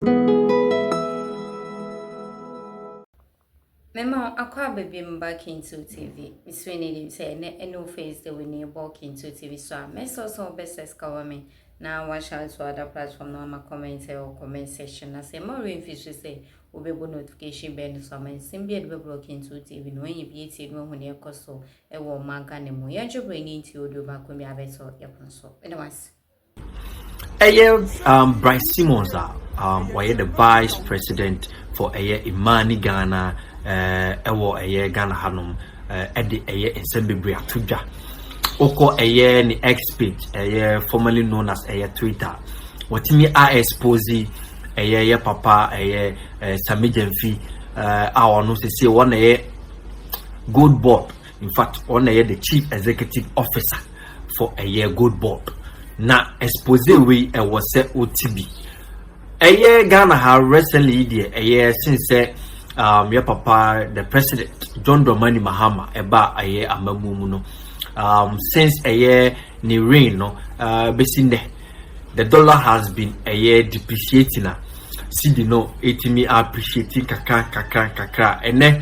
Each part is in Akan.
Mema wo akɔ aba bi mu ba Kintu TV. Mesrɛ ne nim sɛ ɛnɛ ɛne wo face the win bɔ Kintu TV so a mɛsɛ sɛ wobɛsɛ sika wɔ me na wahyɛ ato ada platform na ama comment ɛwɔ comment section na sɛ ɛma remfi so sɛ wobɛbɔ notification bɛn no so ama nsɛm bi a ɛde bɛbrɛ Kintu TV na wɔnyɛ bi atie no ahu ne ɛkɔ so ɛwɔ ɔman Ghana mu yɛn dwobrɛ ne nti oduo baako bi abɛtɔ yɛpon so. Meda wase. Ɛyɛ um, Brice Simmons a um, ɔyɛ the vice president for ɛyɛ Imani Ghana eh, ɛwɔ ɛyɛ Ghana hanom eh, ɛde ɛyɛ nsɛm bebree ato dwa wokɔ ɛyɛ ne X page ɛyɛ formerly known as ɛyɛ Twitter wɔtumi a expose ɛyɛ yɛ papa ɛyɛ eh, Sami Gyamfi eh, a ɔno sese wɔn na ɛyɛ gold board In fact, ɔno na ɛyɛ the chief executive officer for ɛyɛ gold board na expose wei ɛwɔ sɛ ɔti bi ɛyɛ ghana ha recently yi deɛ ɛyɛ sin sɛ um, yɛ papa the president john dramani mahama ɛba ɛyɛ amamu mu no um, since ɛyɛ ne rain no uh, bɛsi nnɛ the dollar has been ɛyɛ depreciating a cedi no ɛtumi appreciating kakra kakra kakra ɛnɛ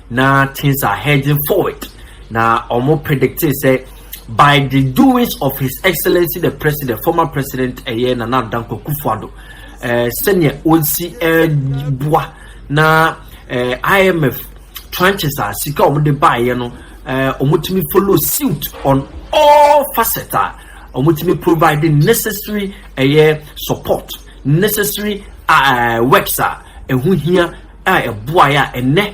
Na things are heading forward na wɔn predictee sɛ by the doings of his excellency the president former president ɛyɛ Nana Addo Dankwa Akufo-Addo ɛɛ eh, sɛnea wɔnsi ɛɛboa eh, na ɛɛ eh, IMF tranches a sika wɔn de baayɛ no ɛɛ wɔn tumi follow suit on all facets a wɔn tumi provide necessary ɛyɛ support necessary uh, works a ɛho hia. a ɛboaeɛ a ɛnɛ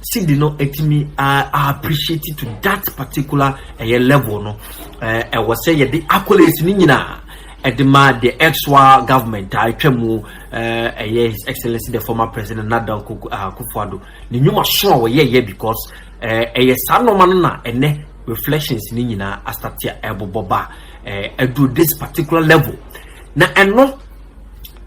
sidi no ɛtumi appreciate to that particular ɛyɛ level no ɛwɔ sɛ yɛde accolades ne nyinaa ɛde ma the extra government a atwa mu ɛyɛ his excellency the former president Nana Akufo-Addo ne nnwuma so a wɔyɛyɛ because ɛyɛ saa nneɛma no na ɛnɛ reflections ne nyinaa asate a ɛbobɔ ba ɛduru this particular level na ɛno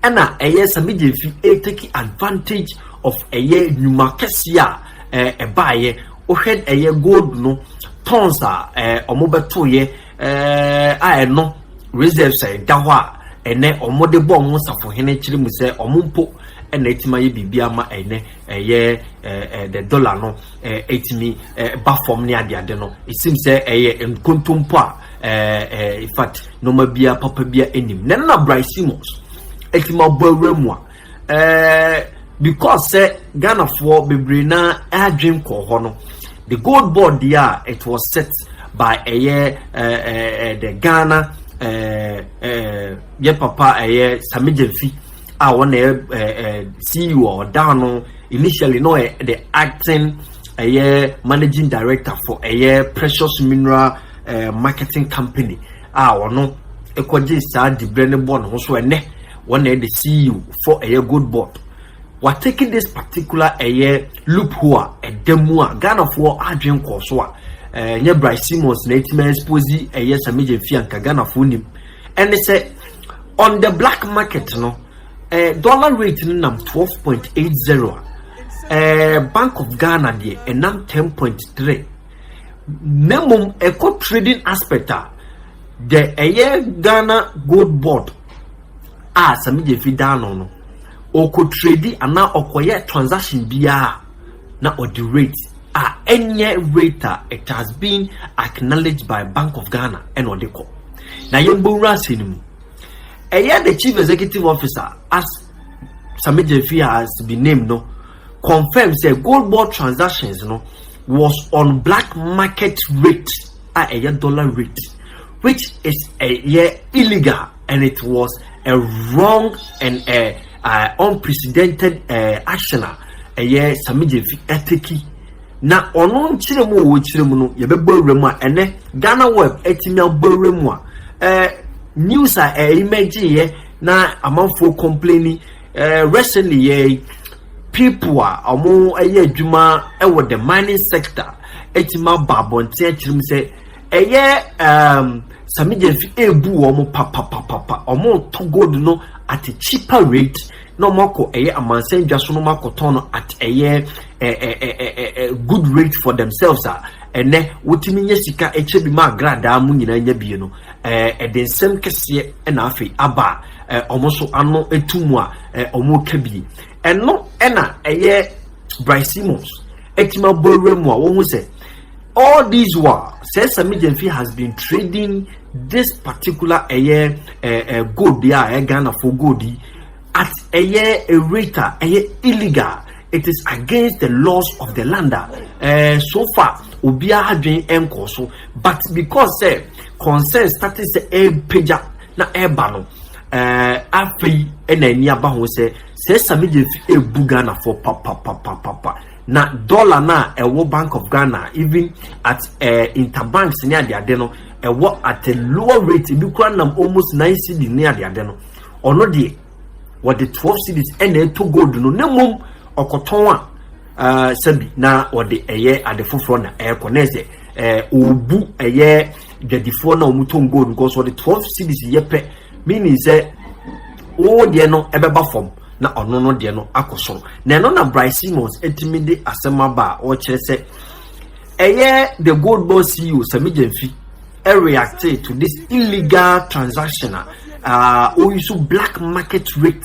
ɛna ɛyɛ sɛ me gyemfi ɛretake advantage of ɛyɛ nnwuma kɛseɛ a ɛɛ ɛbaeɛ wohwɛ ɛyɛ gold no tons a ɛɛ wɔn bɛtoeɛ ɛɛ a ɛno reserves a ɛda hɔ a ɛnɛ wɔn de bɔ wɔn safohene kyerɛ mu sɛ wɔn mpo ɛna ɛtumi ayɛ biribi ama ɛnɛ ɛyɛ ɛɛ ɛɛ the dollar no ɛɛ ɛtumi ɛɛ ba fam ne adeade no esim sɛ ɛyɛ nkontompo a in fact nneɛma biara papa biara anim na na Bryce Simmons ɛti ma bɔ awura mu a ɛɛ because sɛ Ghanafoɔ bebree na adwene kɔɔ hɔ no the gold board deɛ a it was set by ɛyɛ ɛɛ ɛɛ the Ghana ɛɛ ɛɛ yɛ papa ɛyɛ Sami Gyamfi a wɔn na ɛyɛ ɛɛ CEO a ɔda ano initially na ɔyɛ the acting ɛyɛ managing director for ɛyɛ Precious Mineral. marketing company a ɔno kɔgye saa dibrɛ no bɔ ne ho so ɛnɛ wɔn na ɛde ceo for ɛyɛ gold board watake this particular ɛyɛ loophole a ɛda mu a ghanafoɔ adwen kɔɔ so a ɛnyɛ bryce simmons na ɛtumi expose ɛyɛ samigye fi anka ghanafoɔ nim ɛne sɛ on the black market no eh, dollar rate no nam 12.80 a eh, bank of ghana deɛ ɛnam 10.3 na mmom ɛkɔ trading aspect a deɛ ɛyɛ ghana gold board a sami gyefi dan no no ɔkɔ trade anaa ɔkɔyɛ transaction biara na ɔde rate a ɛnyɛ rate a it has been acknowledged by bank of ghana ɛna ɔde kɔ na yɛn bɔ wura ase no mu ɛyɛ the chief executive officer as sami gyefi has been named no. confirm sɛ gold ball transactions no was on black market rate a ɛyɛ dollar rate which is ɛyɛ illegal and it was a wrong and a, a unprecedented uh, action a ɛyɛ samigyefi ɛteki na ɔno nkyerɛ mu wɔ kyerɛ mu no yɛbɛbɔ awura mu a ɛnɛ ghana web atumi abɔ awura mu a ɛɛ news a ɛyɛ mɛgyeeɛ na amanfoɔ kɔmpleni Recently yi ara yi, people a wɔyɛ adwuma wɔ the mining sector atumi aba abɔnten akyerɛ mu sɛ ɛyɛ um, Sami Gyamfi ebu wɔn papapapapa, wɔretɔ gold no at a cheaper rate na wɔakɔ ɛyɛ amansan dwa so na wɔakɔtɔn no at ɛyɛ good rate for themselves a ɛnɛ wotumi nya sika ɛkyɛ bi ma agradaa mu nyinaa nya bie no ɛde nsɛm kɛseɛ na afei aba a eh, wɔn nso ano etu mu a eh, wɔn ka bi ɛno ɛna ɛyɛ Brian Simmons ɛtumi abɔ awura mu a wɔn ho sɛ all these while sɛ Sami Gyamfi has been trading this particular ɛyɛ eh, eh, gold a ɛyɛ Ghana for gold yi at ɛyɛ a rate a ɛyɛ illegal it is against the laws of the land a eh, so far obiara adwene nkɔɔ so but because sɛ eh, concern started sɛ eh, ɛrepagya. na ɛreba no ɛɛ afei ɛna ani aba ho sɛ sɛ sami de fi ebu ghanafoɔ papapapapa na dɔla no a ɛwɔ bank of ghana even at ɛɛ eh, interbanks ne adeade no ɛwɔ at a lower rate ebi kura nam almost nine cd ne adeade no ɔno deɛ wɔde twelve cds ɛna ɛtɔ gold no ne mom ɔkɔtɔn a ɛɛ eh, sɛbi na ɔde ɛyɛ ade foforɔ na ɛrekɔ na ɛsɛ ɛɛ eh, ɔbu ɛyɛ. dwadifoɔ na wɔn tɔn gold because wɔde twelve cedis yɛ pɛ meaning sɛ wɔwɔ deɛ no ɛbɛba fam na ɔno no deɛ no akɔ soro na ɛno na Bryce Simmons ɛtumi de asɛm aba a ɔkyerɛ sɛ ɛyɛ the gold bond CEO Sami Gyamfi ɛreacte to this illegal transaction a uh, ɔyi so black market rate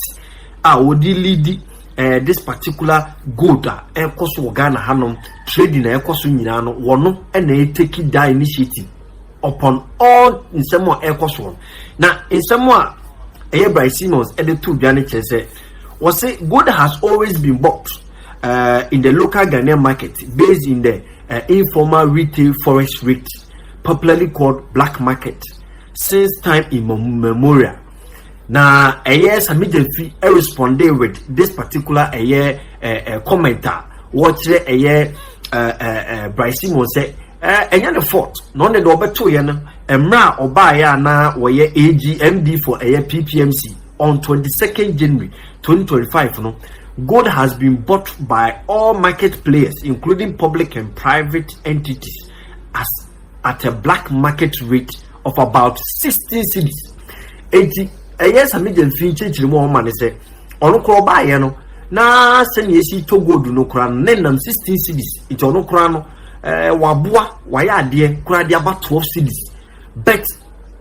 a wɔde lidi. eh, this particular gold a ɛkɔ so wɔ ghana hanom trading a ɛkɔ so nyinaa no wɔno ɛna ɛteki da initiative upon all nsɛm a ɛkɔ so no na nsɛm a ɛyɛ bryce simmons ɛde to dwa no kyerɛ sɛ wɔse gold has always been bought uh, in the local ghanaian market based in the uh, informal retail forest rate popularly called black market since time immemorial na ɛyɛ sɛ me gyamfi responding with this particular ɛyɛ ɛɛ comment a wɔkyerɛ ɛyɛ ɛɛ bryce simon sɛ ɛɛ ɛnyɛ ne fault na ɔne deɛ ɔbɛto yɛ no mmerɛ a ɔbaayɛ a na wɔyɛ agmd for ɛyɛ ppmc on 22nd january 2025 no gold has been bought by all market players including public and private entities as at a black market rate of about sixteen cedis eti ɛyɛ sami gya nfiri nkyɛnkyɛn mu a ɔma ne sɛ ɔno koraa ɔbaayɛ no na sɛnea esi tɔ gold no koraa no ne nam sixteen cedis eti ɔno koraa no ɛɛ eh, waboa wayɛ adeɛ koraa de aba twelve cedis but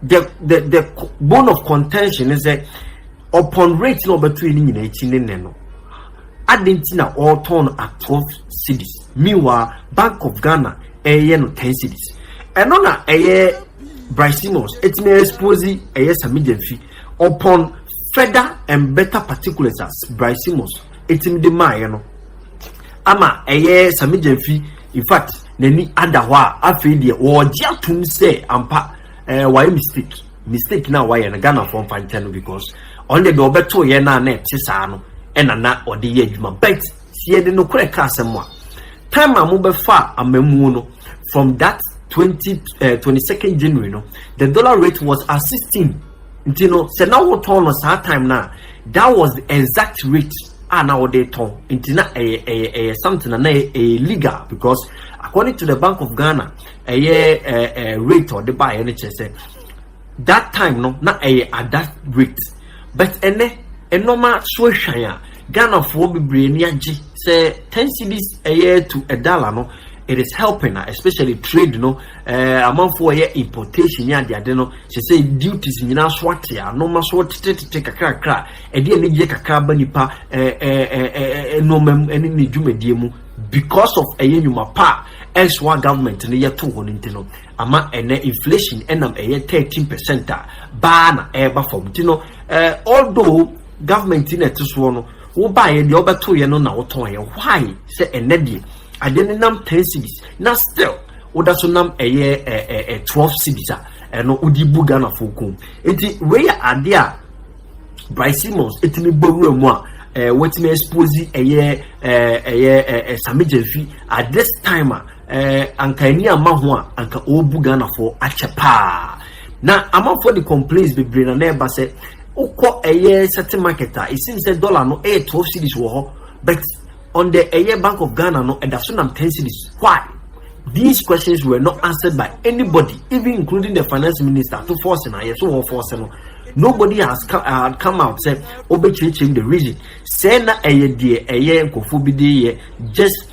the the the bone of contention is sɛ upon rate na ɔbɛto yɛ ne nyinaa akyi ne nɛ no adan ti na ɔretɔn no at twelve cedis meanwhile bank of ghana. ɛyɛ no ten cities ɛno na ɛyɛ Bryce Simmons ɛtumi expose ɛyɛ Sami Gyamfi upon further and better particulars as Bryce Simmons ɛtumi de maayɛ no ama ɛyɛ Sami Gyamfi in fact n'ani ada hɔ a afei deɛ wɔregye atom sɛ ampa ɛɛ eh, wayɛ mistake mistake na wayɛ no Ghana fɔ mfa nkyɛn no because ɔno deɛ ɔbɛto yɛ no a na ɛte saa no ɛna na ɔde yɛ adwuma but Sɛ yɛde nokorɛ ka asɛm a, time a mobɛfaa amammuo no from that twenty eh, twenty second January no, the dollar rate was at sixteen. Nti no, sɛ na wotɔn no saa time na, that was the exact rate a na wode tɔn. Nti na ɛyɛ ɛyɛ ɛyɛ something na na ɛyɛ legal because according to the Bank of Ghana, ɛyɛ ɛɛ eh, eh, rate ɔde baayɛ no kyerɛ sɛ That time no na ɛyɛ at that rate but ɛnɛ nnoɔma so ahwan a Ghana foɔ bebree ni agye sɛ 10 cedis ɛyɛ to a dollar no it is helping a especially trade no ɛɛ eh, amanfoɔ ɛyɛ importation ne adeade no sɛ sɛ duties nyinaa so ate a nnoɔma so tetetete kakrakra ɛde anigyeɛ kakra ba nipa ɛɛ eh, ɛɛ eh, nnoɔma mu ɛne ne dwumadie mu because of ɛyɛ nnwuma pa a ɛsoa government no yɛto hɔ no nti no Ama ɛnɛ inflation nam ɛyɛ thirteen percent a baa na ɛreba fam nti no eh, although government na ɛte soɔ no wobaeɛ deɛ wobɛtoeɛ no na wotɔneɛ why sɛ ɛnɛ deɛ adeɛ no nam ten cities na still woda so nam ɛyɛ eh, eh, eh, twelve cities a ɛno wode bu ghanafoɔ kɔn mu nti wei yɛ adeɛ a Bryce Simmons ɛtumi bɔ wura mu a eh, wɔtumi expose ɛyɛ eh, ɛyɛ eh, eh, Sami Gyamfi at this time a Ɛɛ anka ani ama ho a anka ɔrebu Ghanafoɔ akyɛ paa. Na amanfoɔ de complaints bebree na na ɛba sɛ wokɔ ɛyɛ certain market a it seems sɛ dollar no ɛyɛ twelve cedis wɔ hɔ but on the ɛyɛ Bank of Ghana no ɛda so nam ten cedis why? These questions were not answered by anybody, even including the finance minister, to force him. Yes, so force him. Nobody has come, uh, come out said, "Obechichim the reason." Say na eye die eye nkofo bi just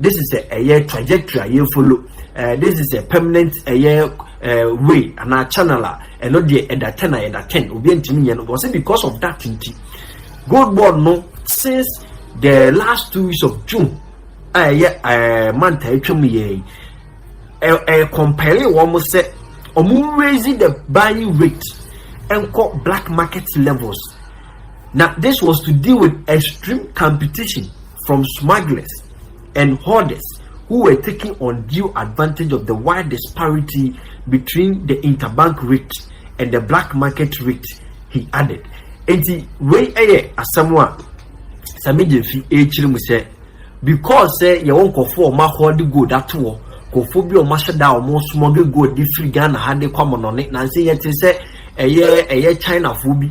this is a ɛyɛ trajectory a yɛ follow uh, this is a permanent ɛyɛ uh, way anaa channel a ɛno deɛ ɛda ten a yɛda ten obi ntumi nyɛ no wɔsɛ because of that nti gold board no since the last two weeks of june a ɛyɛ ɛɛ manta atwam yɛ yi ɛɛ ɛɛ compare wɔn sɛ wɔn raise the buying rate ɛnkɔ black market levels na this was to deal with extreme competition. from smugglers and hoarders who were taking undue advantage of the wide disparity between the interbank rate and the black market rate, he added. Enti wei yɛ asɛm a Sami Gyamfi rekyerɛ mu sɛ because sɛ yɛwɔ nkurɔfoɔ a wɔn ahɔde gold ato hɔ nkurɔfoɔ bi a wɔn ahyɛ da a wɔn smuggle gold de firi ghana ha de kɔ amanɔne nanso yɛte sɛ ɛyɛ ɛyɛ chinafoɔ bi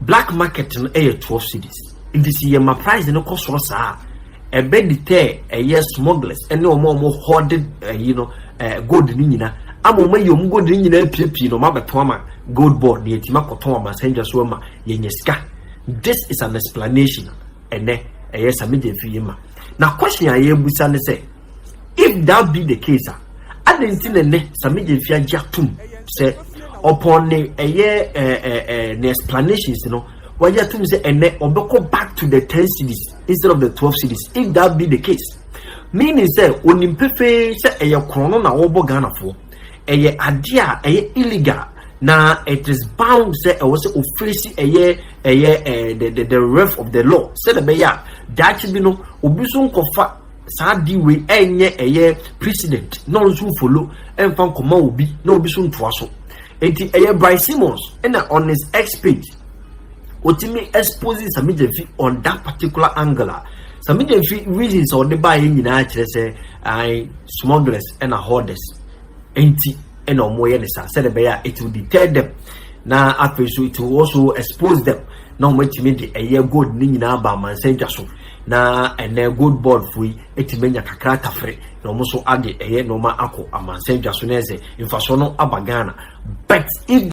Black market no yɛ twelve cedis nti sɛ yɛ ma price no kɔ soro saa a ɛbɛ deter ɛyɛ smugglers ɛne wɔn a wɔn hoarded ɛyi no ɛɛ gold no nyina ama wɔn ayi wɔn gold no nyina apiepie na wɔn abɛtɔn ama gold board na yɛtumi akɔtɔn wɔn asɛndwa so ama yɛnyɛ sika this is an explanation ɛnɛ ɛyɛ sɛ megye mfiri yi ma na question a yɛbusa ne sɛ. If that be the case a, adɛn nti na nnɛ Sammy Gyamfi agye atom sɛ ɔpɔn ne ɛyɛ ɛɛ ɛɛ ne explanations no wagye atom sɛ ɛnɛ ɔbɛkɔ back to the ten cities instead of the twelve cities if that be the case meaning sɛ onim pefee sɛ ɛyɛ korɔn no na wɔbɔ Ghanafoɔ ɛyɛ adeɛ a ɛyɛ illegal na it is bound sɛ ɛwɔ sɛ ofirisi ɛyɛ ɛyɛ ɛɛ the the the ref of the law sɛ ɛbɛyɛ a daakye bi no obi nso nkɔfa. saa deal wei ɛnyɛ ɛyɛ president na ɔno nso follow ɛmfa nkɔma obi na obi so ntoa so eti ɛyɛ Brian Simmons ɛna on his X page otimi expose Sami Gyamfi on that particular angle a Sami Gyamfi reasons a ɔde baeɛ nyinaa kyerɛ sɛ I smugglers ɛna hoarders enti ɛna wɔn yɛ ne saa sɛdeɛ ɛbɛyɛ a it will deter them na afei so it will also expose them na wɔn atumi de ɛyɛ gold ne nyinaa ba amansan dwa so. Na ɛnnɛ Gold Board foɔ yi atumi anya kakra tafere na wɔn nso ade ɛyɛ nneɛma akɔ amansan dwa so na ɛsɛ mfasoɔ no aba Ghana but if